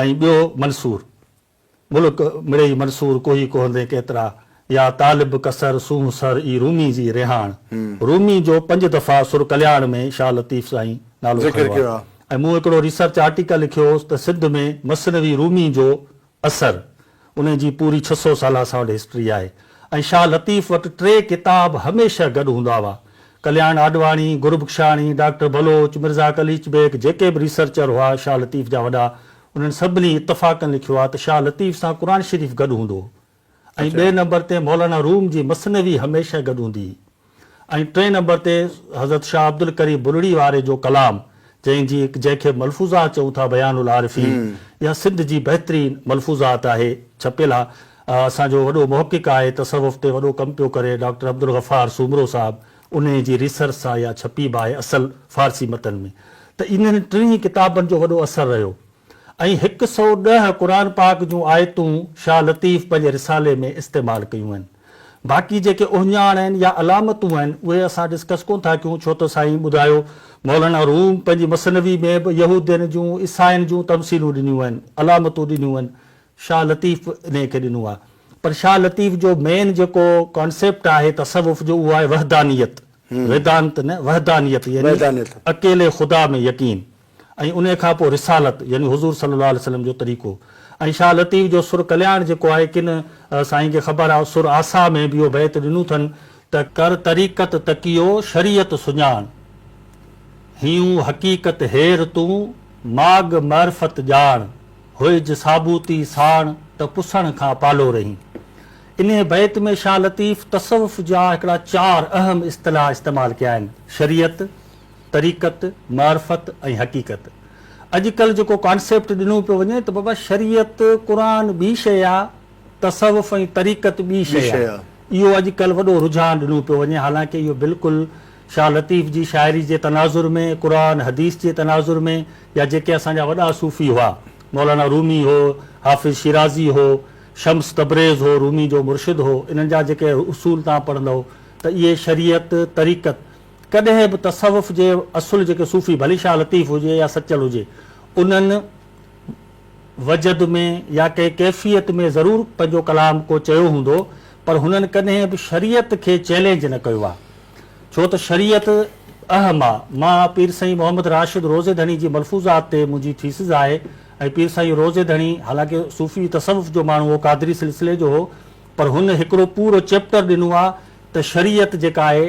۽ ٻيو منصور ملڪ مڙئي منصور ڪوهي ڪوهندين ڪيترا يا طالب ڪسر سونهن سر ئي رومي جي رهاڻ رومي جو پنج دفعا سر ڪلياڻ ۾ شاهه لطيف سائين نالو کنيو آهي ۽ مون هڪڙو ريسرچ آرٽيڪل لکيو هوس ته سنڌ ۾ مثنوي رومي جو اثر، انهي جي پوري ڇهه سؤ سالا اسان وٽ هسٽري آهي ۽ شاهه لطيف وٽ ٽي ڪتاب هميشه گڏ هوندا هئا. ڪلياڻ آڏواڻي، گربخشاڻي، ڊاڪٽر بلوچ، مرزا قليچ بيگ جيڪي به ريسرچر هئا شاهه لطيف جا وڏا، انهن سڀني اتفاقن لکيو آهي ته شاهه لطيف سان قرآن شريف گڏ هوندو هو. ۽ ٻئي نمبر تي مولانا روم جي مثنوي هميشه گڏ هوندي هئي ۽ ٽئين نمبر تي حضرت شاهه عبدالقريب بلڙي واري جو ڪلام جنهن جي جنهن کي ملفوظات چئون ٿا بيان العارفين اها سنڌ جي بهترين ملفوظات آهي ڇپيل آهي اسان جو وڏو محقق آهي تصوف تي وڏو ڪم پيو ڪري ڊاڪٽر عبدالغفار سومرو صاحب انهي جي ريسرچ سان اها ڇپي به آهي اصل فارسي متن ۾ ته انهن ٽنهي ڪتابن جو وڏو اثر رهيو ۽ هڪ سئو ڏهه قرآن پاڪ جون آيتون شاهه لطيف پنهنجي رسالي ۾ استعمال ڪيون آهن. باقي جيڪي اهڃاڻ آهن يا علامتون آهن اهي اسان ڊسڪس ڪون ٿا ڪيون ڇو ته سائين ٻڌايو مولانا روم پنهنجي مثنوي ۾ به يهودين جون عيسائين جون تمثيلون ڏنيون آهن علامتون ڏنيون آهن شاهه لطيف به انهي کي ڏنو آهي پر شاهه لطيف جو مين جيڪو ڪانسيپٽ آهي تصوف جو اهو آهي وحدانيت ويدانت نه وحدانيت يعني اڪيلي خدا ۾ يقين. ۽ انهي کان پوء رسالت يعني حضور صلي الله عليه وسلم جو طريقو ۽ شاهه لطيف جو سر ڪلياڻ جيڪو آهي ڪن سائين کي خبر آهي سر آسا ۾ به اهو بيت ڏنو اٿن ته. ڪر طريقت تقيو شريعت سڃاڻ هيون حقيقت هير تون ماڳ معرفت ڄاڻ هئج ثابوتي ساڻ ته پسڻ کان پالو رهين انهي بيت ۾ شاهه لطيف تصوف جا هڪڙا چار اهم اصطلاح استعمال ڪيا آهن شريعت، طريقت، معرفت ۽ حقيقت. اڄ ڪلهه جيڪو ڪانسيپٽ ڏنو پيو وڃي ته بابا شريعت، قرآن ٻي شيء آ، تصوف ۽ طريقت ٻي شيء آ. اهو اڄ ڪلهه وڏو رجحان ڏنو پيو وڃي حالانڪه اهو بلڪل شاهه لطيف جي شاعري جي تناظر ۾ قرآن حديث جي تناظر ۾ يا جيڪي اسان جا وڏا صوفي هئا مولانا رومي هو، حافظ شيرازي هو، شمس تبريز هو رومي جو مرشد هو انهن جا جيڪي اصول توهان پڙهندؤ ته اهي شريعت، طريقت. ڪڏهن به تصوف جي اصل جيڪي صوفي ڀلي شاهه لطيف هجي يا سچل هجي انهن وجد ۾ يا ڪنهن ڪيفيت ۾ ضرور پنهنجو ڪلام ڪو چيو هوندو پر هنن ڪڏهن به شريعت کي چئلينج نه ڪيو آهي ڇو ته شريعت اهه ما مان پير سائين محمد راشد روضي ڌڻي جي ملفوظات تي منهنجي ٿيسز آهي ۽ پير سائين روضي ڌڻي حالانڪه صوفي تصوف جو ماڻهو هو قادري سلسلي جو هو پر هن هڪڙو پورو چيپٽر ڏنو آهي ته شريعت جيڪا آهي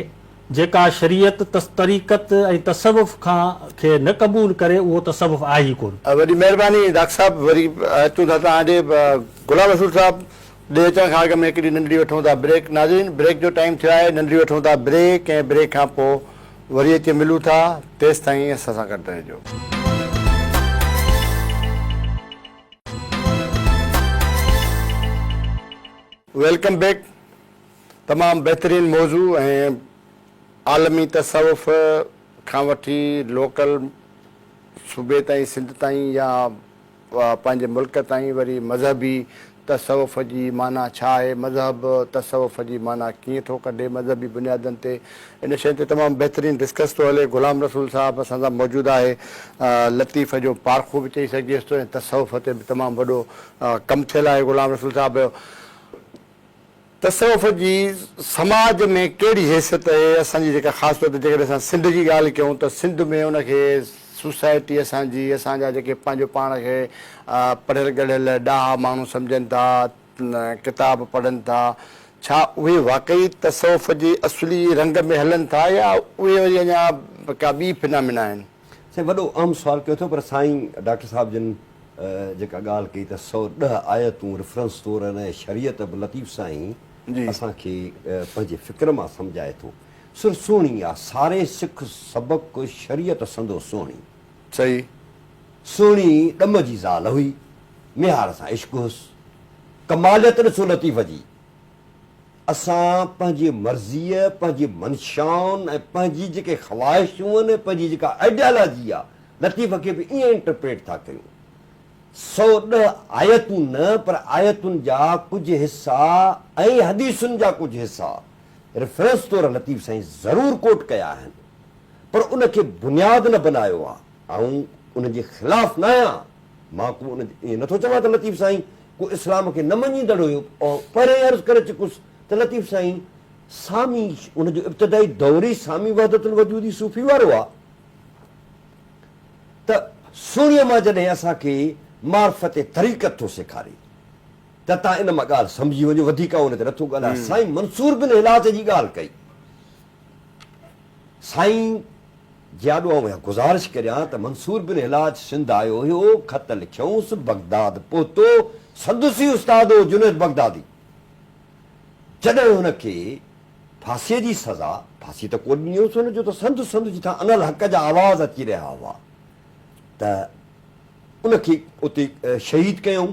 جيڪا شريعت، طريقت ۽ تصوف کان کي نه قبول ڪري اهو تصوف آهي ئي ڪونه. وڏي مهرباني ڊاڪٽر صاحب وري اچون ٿا توهان ڏي غلام رسول صاحب ڏي اچڻ کان اڳ ۾ هڪڙي ننڍڙي وٺون ٿا بريڪ ناظرين بريڪ جو ٽائيم ٿيو آهي ننڍڙي وٺون ٿا بريڪ ۽ بريڪ کان پو وري اچي ملون ٿا تيستائين اسان سان گڏ رهجو. ويلڪم بيڪ تمام بهترين موضوع ۽ عالمي تصوف کان وٺي لوڪل صوبي تائين سنڌ تائين يا پنهنجي ملڪ تائين وري مذهبي تصوف جي معنيٰ ڇا آهي مذهب تصوف جي معنيٰ ڪيئن ٿو ڪڍي مذهبي بنيادن تي ان شين تي تمام بهترين ڊسڪس ٿو هلي غلام رسول صاحب اسان سان موجود آهي لطيف جو پارکو به چئي سگهجيس ٿو ۽ تصوف تي به تمام وڏو ڪم ٿيل آهي غلام رسول صاحب تصوف جي سماج ۾ ڪهڙي حيثيت اهي اسان جي جيڪا خاص طور تي جيڪڏهن اسان سنڌ جي ڳالهه ڪيون ته سنڌ ۾ ان کي سوسائٽي اسان جي اسان جا جيڪي پنهنجو پاڻ کي پڙهيل ڳڙهيل ڏاها ماڻهو سمجهن ٿا ڪتاب پڙهن ٿا ڇا اهي واقعي تصوف جي اصلي رنگ ۾ هلن ٿا يا اهي وري اڃا ڪا ٻي فنامينا آهن. سائين وڏو اهم سوال ڪيو اٿو پر سائين ڊاڪٽر صاحب جن جيڪا ڳالهه ڪئي ته سؤ ڏهه آيتون ريفرنس طور ان ۽ شريعت به لطيف سائين اسان کي پنهنجي فڪر مان سمجهائي ٿو سر سهڻي آ ساري سک سبق شريعت سندو سهڻي صحيح سهڻي ڏم جي زال هئي ميهار سان عشق هس ڪماليت ڏسو لطيف جي. اسان پنهنجي مرضيء، پنهنجي منشائن ۽ پنهنجي جيڪي خواهشون آهن ۽ پنهنجي جيڪا آئيڊيالاجي آهي، لطيفه کي به ائين انٽرپريٽ ٿا ڪيون. سؤ ڏهه آيتون نه پر آيتن جا ڪجهه حصا ۽ حديثن جا ڪجهه حصا ريفرنس طور لطيف سائين ضرور ڪوٽ ڪيا آهن پر ان کي بنياد نه بنايو آهي. آئون انهن جي خلاف ناهيان، مان ڪو ان ائين نٿو چوان ته لطيف سائين ڪو اسلام کي نه مڃيندڙ هيو. آئون پهريائين عرض ڪري چڪس ته لطيف سائين سامي ان جو ابتدائي دور ئي سامي وحدت الوجودي صوفي وارو آ ته سهڻيء مان جڏهن اسان کي معرفت طريقت ٿو سيکاري ته تان ان مان ڳالهه سمجهي وڃو وڌيڪ آئون ان تي نٿو ڳالهايان سائين منصور بن هلاس جي ڳالهه ڪئي سائين جي آڏو آئون اها گذارش ڪريان ته منصور بن حلاج سنڌ آيو هيو، خط لکيائونس، بغداد پهتو، سندس ئي استاد هو جنيد بغدادي، جڏهن هن کي ڦاسيء جي سزا، ڦاسي ته ڪو ڏنيونس هن جو ته سنڌ سنڌ جي ٿان انالحق جا آواز اچي رهيا هئا ته ان کي اتي شهيد ڪيائون.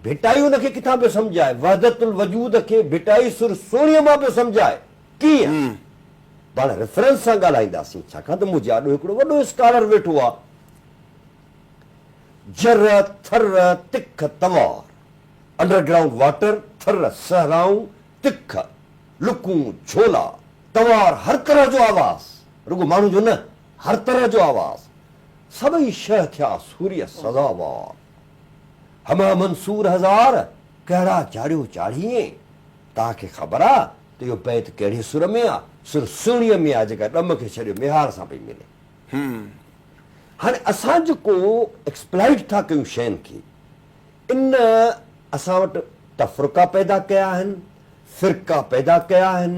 ڀٽائي ان کي ڪٿان پيو سمجهائي، وحدت الوجود کي ڀٽائي سر سوڻيء مان پيو سمجهائي. ڪيئن؟ پاڻ ريفرنس سان ڳالهائينداسين، ڇاڪاڻ ته منهنجي آڏو هڪڙو وڏو اسڪالر ويٺو آهي. جر، ٿر، تک، توار، انڊر گرائونڊ واٽر، ٿر، صحرائون، تک، لڪون، جهولا، توار، هر طرح جو آواز، رڳو ماڻهن جو نه، هر طرح جو آواز، سڀئي شهه ٿيا سوريء سزاوار. همه منصور هزار، ڪهڙا جاڙيو چاڙهيئين، توهان کي خبر آ، ته اهو بيت ڪهڙي سر ۾ آ؟ سر سهڻيء ۾ آ، جيڪا ڏم کي ڇڏيو ميهار سان پئي ملي. هاڻي اسان جيڪو ايڪسپلائيٽ ٿا ڪيون شين کي، ان اسان وٽ تفرقا پيدا ڪيا آهن، فرقا پيدا ڪيا آهن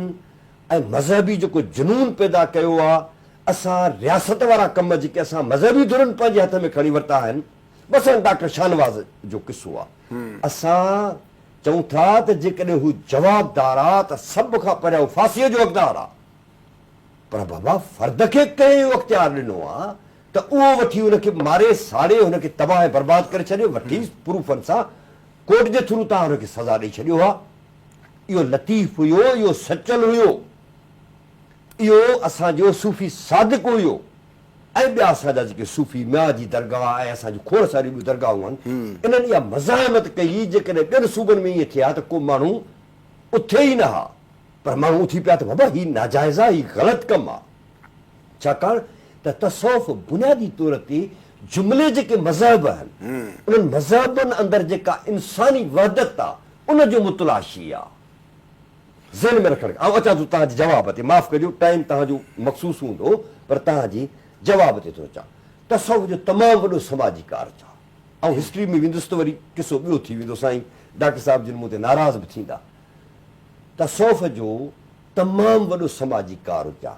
۽ مذهبي جيڪو جنون پيدا ڪيو آ، اسان رياست وارا ڪم جيڪي اسان مذهبي ڌرين پنهنجي هٿ ۾ کڻي ورتا آهن، مثلا ڊاڪٽر شاهنواز جو قصو آ، اسان چئون ٿا ته جيڪڏهن هو جوابدار آ ته سڀ کان پهريان هو ڦاسيء جو حقدار آ. پر بابا فرد کي ڪنهن اهو اختيار ڏنو آ ته اهو وٺي ان کي ماري ساڙي هن کي تباهه ۽ برباد ڪري ڇڏي وٺي پروفن سان ڪورٽ جي ٿرو توهان هن کي سزا ڏئي ڇڏيو آ. اهو لطيف هيو اهو سچل هيو اهو اسان جو صوفي صادق هيو. ۽ ٻيا اسان جا جيڪي صوفي ميان جي درگاهه ۽ اسان جون کوڙ ساريون ٻيون درگاهون آهن، انهن اها مزاحمت ڪئي هئي، جيڪڏهن ٻين صوبن ۾ ائين ٿئي ها ته ڪو ماڻهو اٿي ئي نه ها، پر ماڻهو اٿي پيا ته بابا هي ناجائز آهي، هي غلط ڪم آهي. ڇاڪاڻ ته تصوف بنيادي طور تي جملي جيڪي مذهب آهن، انهن مذهبن اندر جيڪا انساني وحدت آهي، ان جو متلاشي آهي. ذهن ۾ رکڻ آئون اچان ٿو توهان جي جواب تي معاف ڪجو ٽائيم توهان جو مخصوص هوندو پر توهان جي جواب تي ٿو اچان تصوف جو تمام وڏو سماجي ڪارج آ آئون هسٽري ۾ ويندس ته وري قصو ٻيو ٿي ويندو سائين ڊاڪٽر صاحب جن مون تي ناراض به ٿيندا تصوف جو تمام وڏو سماجي ڪارج آ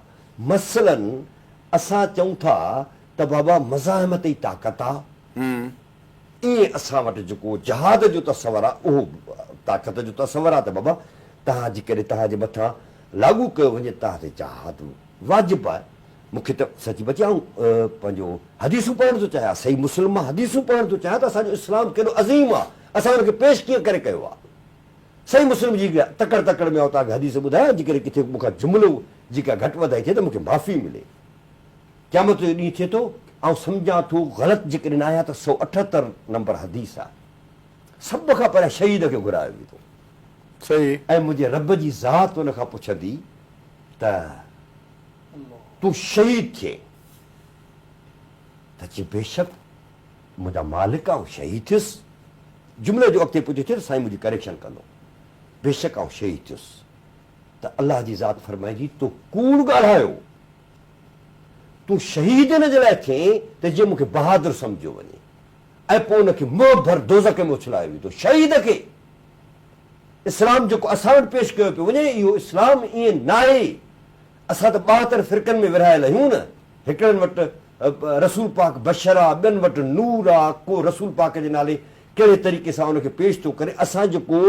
مثلاً اسان چئون ٿا ته بابا مزاحمت ئي طاقت آ ايئن اسان وٽ جيڪو جهاد جو تصور آ اهو طاقت جو تصور آ ته بابا توهان جي ڪري توهان جي مٿان لاڳو ڪيو وڃي توهان تي جهاد واجب آ مون کي ته سچ پچ آئون پنهنجو حديثون پڙهڻ ٿو چاهيان صحيح مسلم مان حديثون پڙهڻ ٿو چاهيان ته اسان جو اسلام ڪيڏو عظيم آ اسان ان کي پيش ڪيئن ڪري ڪيو آ صحيح مسلم جي تڪڙ تڪڙ ۾ آئون توهان کي حديث ٻڌايان جيڪڏهن ڪٿي مون کان جملو جي ڪا گهٽ وڌائي ٿئي ته مون کي معافي ملي قيامت جو ڏينهن ٿئي ٿو، آئون سمجهان ٿو غلط جيڪڏهن آهيان ته سؤ اٺهتر نمبر حديث آهي، سڀ کان پهريان شهيد کي گهرايو ويندو ۽ منهنجي رب جي ذات ان کان پڇندي ته تون شهيد ٿئين ته چئي بيشڪ منهنجا مالڪ آئون شهيد ٿيس، جملي جو اڳتي پڇو ٿئي ته سائين منهنجي ڪريڪشن ڪندو بيشڪ آئون شهيد ٿيس ته الله جي ذات فرمائيندي تو ڪوڙ ڳالهايو، تون شهيد ان جي لاء ٿئين ته جيئن مون کي بهادر سمجهيو وڃي ۽ پوء ان کي منهن ڀر دوزخ ۾ اڇلايو ويندو. شهيد کي اسلام جيڪو اسان وٽ پيش ڪيو پيو وڃي اهو اسلام ائين ناهي. اسان ته ٻاهتر فرقن ۾ ورهايل آهيون نه. هڪڙن وٽ رسول پاڪ بشر آ، ٻين وٽ نور آ، ڪو رسول پاڪ جي نالي ڪهڙي طريقي سان ان کي پيش ٿو ڪري. اسان جيڪو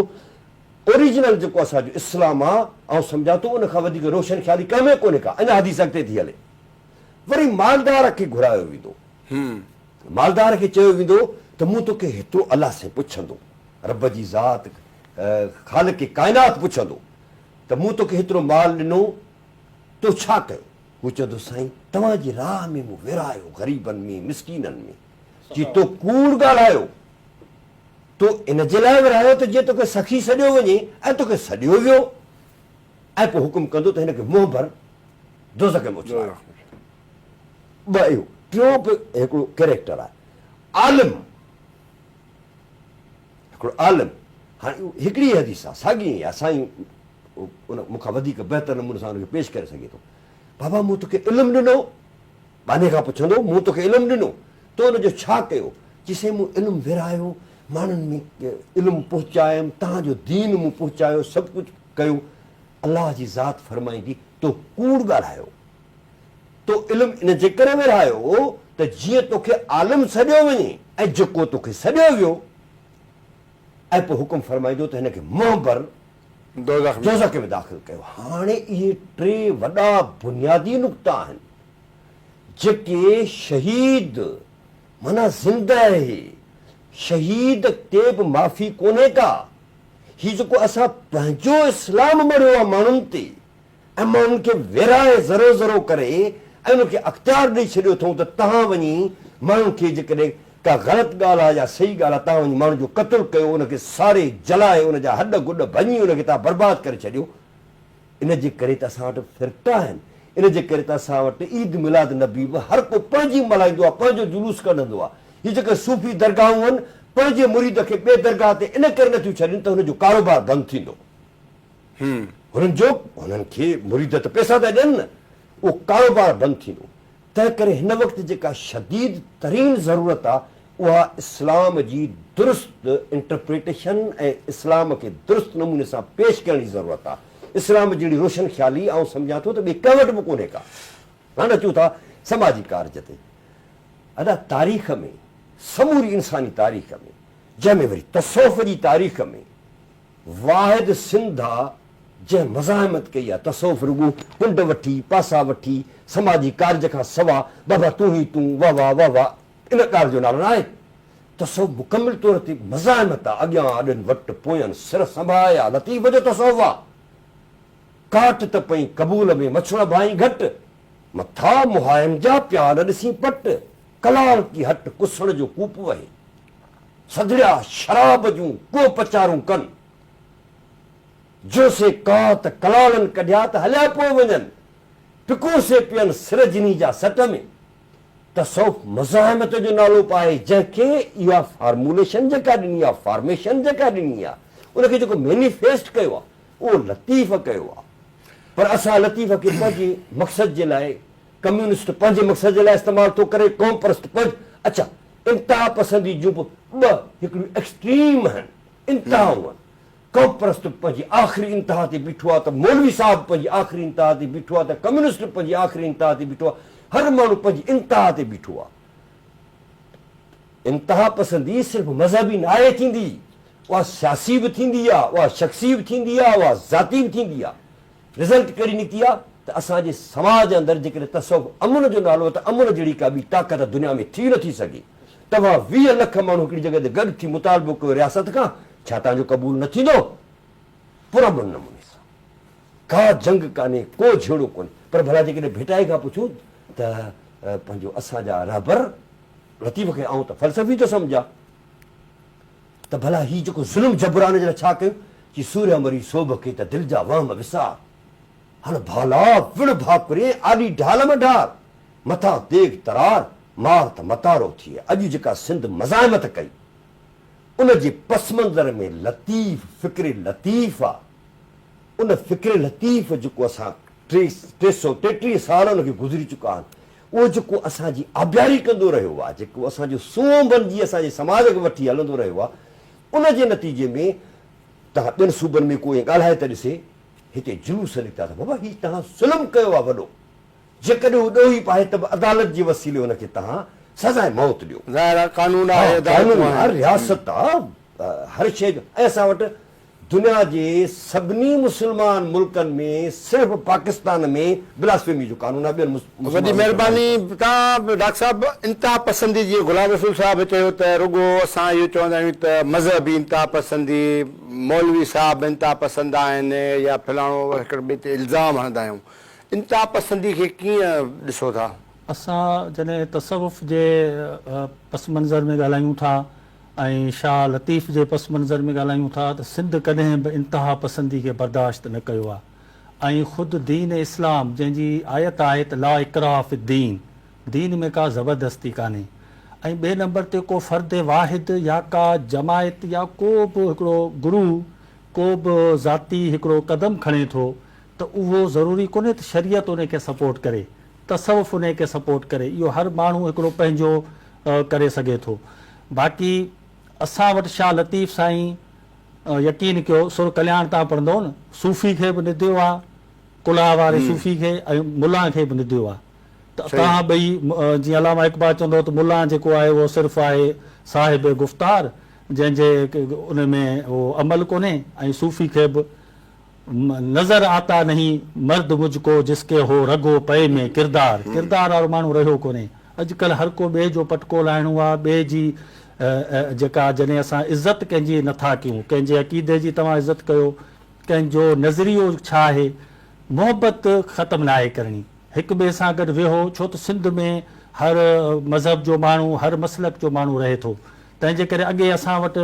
اوريجنل جيڪو اسان جو اسلام آ آئون سمجهان ٿو ان کان وڌيڪ روشن خيالي ڪنهن ۾ ڪونهي ڪا اڃا حديث اڳتي ٿي هلي وري مالدار کي گهرايو ويندو مالدار کي چيو ويندو ته مون توکي هيترو الله سين پڇندو رب جي ذات خالق ڪائنات پڇندو ته مون توکي هيترو مال ڏنو تو ڇا ڪيو هو چوندو سائين توهان جي راهه ۾ مون ورهايو غريبن ۾ مسڪينن ۾ جي تو ڪوڙ ڳالهايو تو ان جي لاء ورهايو ته جيئن توکي سخي سڏيو وڃي ۽ توکي سڏيو ويو ۽ پوء حڪم ڪندو ته هن کي منهن ڀر دوزخ ۾ اڇلايو. ٻه اهو ٽيون به هڪڙو ڪيريڪٽر آهي عالم هڪڙو عالم هاڻي اهو هڪڙي ئي حديث آهي ساڳي ائين آهي سائين ان مون کان وڌيڪ بهتر نموني سان ان کي پيش ڪري سگهي ٿو بابا مون توکي علم ڏنو ٻانهي کان پڇندو، مون توکي علم ڏنو، تو ان جو ڇا ڪيو؟ چي، سائين مون علم ورهايو، ماڻهن ۾ علم پهچايم، توهان جو دين مون پهچايو، سڀ ڪجهه ڪيو. الله جي ذات فرمائيندي، تو ڪوڙ ڳالهايو. تو علم ان جي ڪري ورهايو ته جيئن توکي عالم سڏيو وڃي ۽ جيڪو توکي سڏيو ويو ۽ پوء حڪم فرمائيندو ته هن کي منهن ڀر، دوزخ ۾ داخل ڪيو. هاڻي اهي ٽي وڏا بنيادي نقطا آهن جيڪي شهيد معنيٰ زنده اهي شهيد تي به معافي ڪونهي ڪا هي جيڪو اسان پنهنجو اسلام مڙهيو آهي ماڻهن تي ۽ مان انهن کي ورهائي ذرو ذرو ڪري ۽ انهن کي اختيار ڏئي ڇڏيو اٿئون ته تهان وڃي ماڻهن کي جيڪڏهن ڪا غلط ڳالهه آهي يا صحيح ڳالهه آهي تهان وڃي ماڻهن جو قتل ڪيو ان کي ساڙي جلائي ان جا هڏ گڏ ڀڃي ان کي تهان برباد ڪري ڇڏيو ان جي ڪري ته اسان وٽ فرقا آهن ان جي ڪري ته اسان وٽ عيد ميلاد نبي به هر ڪو پنهنجي ملهائيندو آهي پنهنجو جلوس ڪڍندو آهي هي جيڪي صوفي درگاهون آهن پنهنجي مريد کي ٻي درگاهه تي ان ڪري نٿيون ڇڏين ته هن جو ڪاروبار بند ٿيندو. هنن جو هنن کي مريد ته پئسا پيا ڏين نه، اهو ڪاروبار بند ٿيندو، تنهن ڪري هن وقت جيڪا شديد ترين ضرورت آ اها اسلام جي درست انٽرپريٽيشن ۽ اسلام کي درست نموني سان پيش ڪرڻ جي ضرورت آ، اسلام جهڙي روشن خيالي آئون سمجهان ٿو ته ٻئي ڪنهن وٽ به ڪونهي ڪا. هاڻي اچون ٿا سماجي ڪارج تي. ادا تاريخ ۾ سموري انساني تاريخ ۾ جنهن ۾ وري تصوف جي تاريخ ۾. واحد سنڌ آ جنهن مزاحمت ڪئي آ تصوف رڳو ڪنڊ وٺي پاسا وٺي سماجي ڪارج کان سوا بابا تون هي تون واه واه واه واه ان ڳالهه جو نالو ناهي تصوف مڪمل طور تي مزاحمت آ اڳيان آڏن وٽ پوين سر سنڀاهي آ لطيف جو تصوف آ ڪاٽ ته پئين قبول ۾ مڇوڻ ڀائين گهٽ مٿا مهاين جا پيا نه ڏسين پٽ ڪلال ڪي هٽ ڪسڻ جو ڪوپ وهي. سگهڙيا شراب جون ڪوپچارون ڪن. جو سي ڪات ڪلالن ڪڍيا ته هليا پوء وڃن. پڪو سي پين سر جني جا سٽ ۾. تصوف مزاحمت جو نالو پائي جنهن کي اها فارموليشن جيڪا ڏني آ، فارميشن جيڪا ڏني آ، ان کي جيڪو مينيفيسٽ ڪيو آ، اهو لطيف ڪيو آ. پر اسان لطيف کي پنهنجي مقصد جي لاء، ڪميونسٽ پنهنجي مقصد جي لاء استعمال ٿو ڪري، قوم پرست پنهنج اڇا! انتها پسندي جون به ٻه هڪڙيون ايڪسٽريم هن انتهائون هن قوم پرست به پنهنجي آخري انتها تي بيٺو آهي ته مولوي صاحب به پنهنجي آخري انتها تي بيٺو آهي ته ڪميونسٽ به پنهنجي آخري انتها تي بيٺو آهي هر ماڻهو پنهنجي انتها تي بيٺو آهي انتها پسندي صرف مذهبي ناهي ٿيندي اها سياسي به ٿيندي آهي اها شخصي به ٿيندي آهي اها ذاتي به ٿيندي آهي رزلٽ ڪهڙي نڪتي آ ته اسان جي سماج اندر جيڪڏهن تصوف امن جو نالو آ ته امن جهڙي ڪا ٻي طاقت دنيا ۾ ٿي نٿي سگهي توهان ويهه لک ماڻهو هڪڙي جڳهه تي گڏ ٿي مطالبو ڪيو رياست کان ڇا توهان جو قبول نه ٿيندو پر امن نموني سان ڪا جنگ ڪانهي ڪو جهيڙو ڪونهي پر ڀلا جيڪڏهن ڀٽائي کان پڇون ته پنهنجو اسان جا رهبر لطيف کي آئون ته فلسفي ٿو سمجهان. ته ڀلا هي جيڪو ظلم جبران جي لاء ڇا ڪيون چي سوريا مري سوڀ کي ته دل جا وهم وسار هل ڀالا وڙهه ڀاڪرين آڏي ڍال م ڍار مٿان تيغ ترار مار ته متارو ٿئي اڄ جيڪا سنڌ مزاحمت ڪئي ان جي پس منظر ۾ لطيف فڪر لطيف آ ان فڪر لطيف جيڪو اسان ٽي سئو ٽيٽيهه سال ان کي گذري چڪا آهن اهو جيڪو اسان جي آبياري ڪندو رهيو آهي، جيڪو اسان جو سونهن بنجي اسان جي سماج کي وٺي هلندو رهيو آهي، ان جي نتيجي ۾ تنهن ٻين صوبن ۾ ڪو ائين ڳالهائي ته ڏسي، هتي جلوس نڪتا ته بابا هي تنهن ظلم ڪيو آهي وڏو، جيڪڏهن هو ڏوهي به آهي ته به عدالت جي وسيلي ان کي تنهن سزائي موت ڏيو. ظاهر آهي قانون آهي، عدالتون آهن. ها قانون آهي، رياست آهي، هر شيء جو ۽ اسان وٽ دنيا جي سڀني مسلمان ملڪن ۾ صرف پاڪستان ۾ بلاسفيمي جو قانون آهي ٻين مسلمان ملڪن ۾ وڏي مهرباني توهان ڊاڪٽر صاحب انتها پسندي جيئن غلام رسول صاحب چيو ته رڳو اسان اهو چوندا آهيون ته مذهبي انتها پسندي مولوي صاحب انتها پسند آهن يا فلاڻو هڪڙي ٻئي تي الزام هڻندا آهيون انتها پسندي کي ڪيئن ڏسو ٿا؟ اسان جڏهن تصوف جي پس منظر ۾ ڳالهايون ٿا ۽ شاهه لطيف جي پس منظر ۾ ڳالهايون ٿا ته سنڌ ڪڏهن به انتها پسندي کي برداشت نه ڪيو آهي ۽ خود دين اسلام جنهن جي آيت آهي ته لا اڪراه في الدين دين ۾ ڪا زبردستي ڪانهي ۽ ٻئي نمبر تي ڪو فرد واحد يا ڪا جماعت يا ڪو به هڪڙو گرو ڪو به ذاتي هڪڙو قدم کڻي ٿو ته اهو ضروري ڪونهي ته شريعت ان کي سپورٽ ڪري تصوف ان کي سپورٽ ڪري اهو هر ماڻهو هڪڙو پنهنجو ڪري سگهي ٿو باقي اسان وٽ شاهه لطيف سائين يقين ڪيو سر ڪلياڻ تان پڙهندؤ نه صوفي کي به نديو آ ڪلها واري صوفي کي ۽ ملان کي به نديو آ ته توهان ٻئي جيئن علامه اقبال چوندو هو ته ملان جيڪو آهي اهو صرف آهي صاحب گفتار جنهن جي ان ۾ عمل ڪونهي ۽ صوفي کي به نظر آتا نهين مرد مجھ ڪو جس ڪي هو رڳو پئي ۾ ڪردار ڪردار وارو ماڻهو رهيو ڪونهي اڄ ڪلهه هر ڪو ٻئي جو پٽڪو لاهڻو آ ٻئي جي جيڪا جڏهن اسان عزت ڪنهن جي نٿا ڪيون ڪنهن جي عقيدي جي توهان عزت ڪيو ڪنهن جو نظريو ڇا آهي محبت ختم ناهي ڪرڻي هڪ ٻئي سان گڏ ويهو ڇو ته سنڌ ۾ هر مذهب جو ماڻهو هر مسلڪ جو ماڻهو رهي ٿو تنهن جي ڪري اڳي اسان وٽ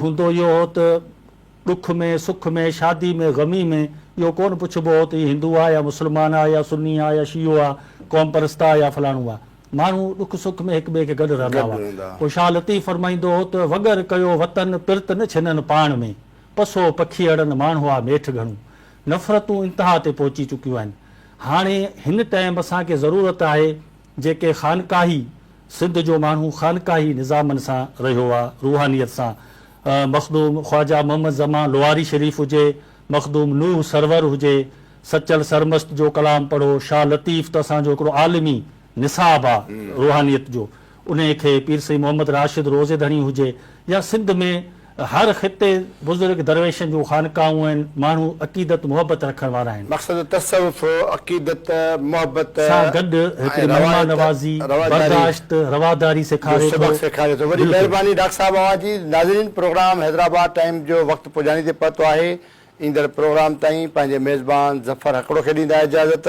هوندو اهو هو ته ڏک ۾ سک ۾ شادي ۾ غمي ۾ اهو ڪونه پڇبو هو ته هي هندو آ يا مسلمان آ يا سني آ يا شيعو آ قوم پرست آ يا فلاڻو آ ماڻهو ڏک سک ۾ هڪ ٻئي کي گڏ رهندا هئا پوء شاهه لطيف فرمائيندو هو ته وڳر ڪيو وطن پرت نه ڇنن پاڻ ۾ پسو پکيئڙن ماڻهو آ ميٺ گهڻون نفرتون انتها تي پهچي چڪيون آهن هاڻي هن ٽائيم اسان کي ضرورت آهي جيڪي خانقاهي سنڌ جو ماڻهو خانقاهي نظامن سان رهيو آ روحانيت سان مخدوم خواجه محمد زمان لوهاري شريف هجي مخدوم نوح سرور هجي سچل سرمست جو ڪلام پڙهو شاهه لطيف ته اسان جو هڪڙو عالمي نصاب آ روحانيت جو انهي کي پير سيد محمد راشد روضي ڌڻي هجي يا سنڌ ۾ هر خطي بزرگ درويشن جون خانقاهون آهن، ماڻهو عقيدت محبت رکڻ وارا آهن. مقصد تصوف عقيدت، محبت سان گڏ هڪڙي ۽ مهمان روائت، نوازي، رواداري، برداشت، رواداري جو سيکاري ٿو. سبق سيکاري ٿو. وڏي بلڪل. مهرباني ڊاڪٽر صاحب اوهان جي. ناظرين پروگرام حيدرآباد ٽائيم جو وقت پڄاڻي تي پهتو آهي. ايندڙ پروگرام تائين پنهنجي ميزبان ظفر هڪڙو کي ڏيندا اجازت.